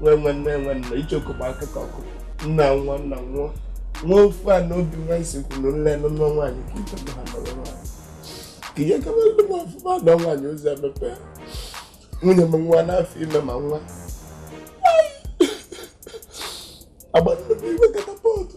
nwe nwe nne nwe nna icheoku bụ akụkọ ọkụ nna nwa nna nwa nwa ofu a na obi nwa isi kwuru nne nọ nwa nwaanyị ka ibe ha nọrọ nwaanyị ka ihe kama ebe m ọfụma na nwaanyị ụzọ emepe nwunye m nwa n'afọ ime ma nwa agba nnukwu iwe katapọtụ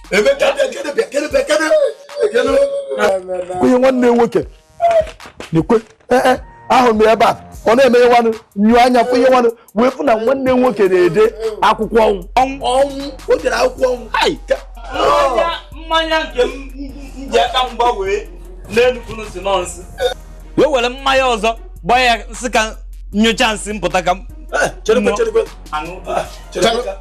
onye nwanne nwoke na-ekwe eh, eh, ahụrụ m ebe a ọ na-eme ihe nwanụ nyuo anya fụ ihe nwanụ wee fụ na nwanne nwoke na-ede akwụkwọ ọnwụ o dere akwụkwọ ọnwụ mmanya nke m ji aka m gbanwee n'enugwu si nọnsị wee were mmanya ọzọ gbanye m sị ka m nyụchaa nsị m pụta ka m eh,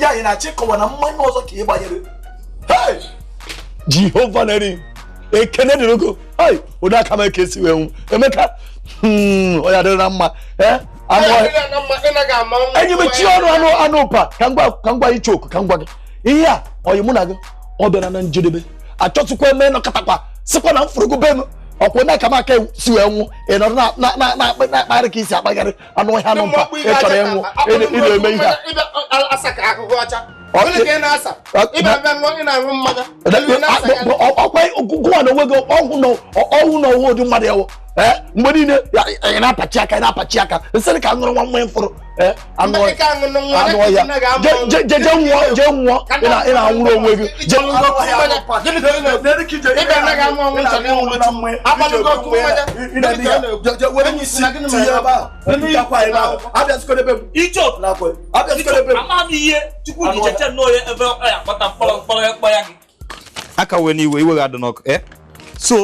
ya anyị na-achọ ịkọwa na mmanya ọzọ ka ị gbanyere jehova na-eri ekene dịrị gị o ai ụdị aka m aka esi wee nwụ emeka hmm, ọ ya dịrịla mma eh? enyi mechie ọnụ anụ ụpa ka m gwa icheoku ka m gwa gị ihe a ọyị mụ na gị ọ bịana na njedebe achọzịkwa m ịnọkatakwa sịkwa na m fụrụ gụ be m ọkwụ na aka m aka esi wee nwụ ị nọrọ na-akparị ka isi akpagharị anụ ọhịa anụ mpa ị chọrọ ịnwụ ị na-eme ihe gụwa na onwe gị ọgwụ na ọnwụ ụdị mmadụ ewu mgbe niile ị na-akpachi aka ị na-akpachi aka m sịrị ka m ṅụrụ nwa mmanya m fụrụ anụ ọhịa jee nwụọ jee nwụọ ị na-anwụrụ onwe gị je aka wee n'iwe iwe ga-adị n'ọkụ eh? so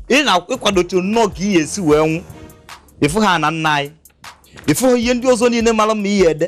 ị na-akwadozi nnọọ ka ị esi wee nwụ ịfụ ha na nna anyị ịfụ ihe ndị ọzọ niile mara mma ihe ede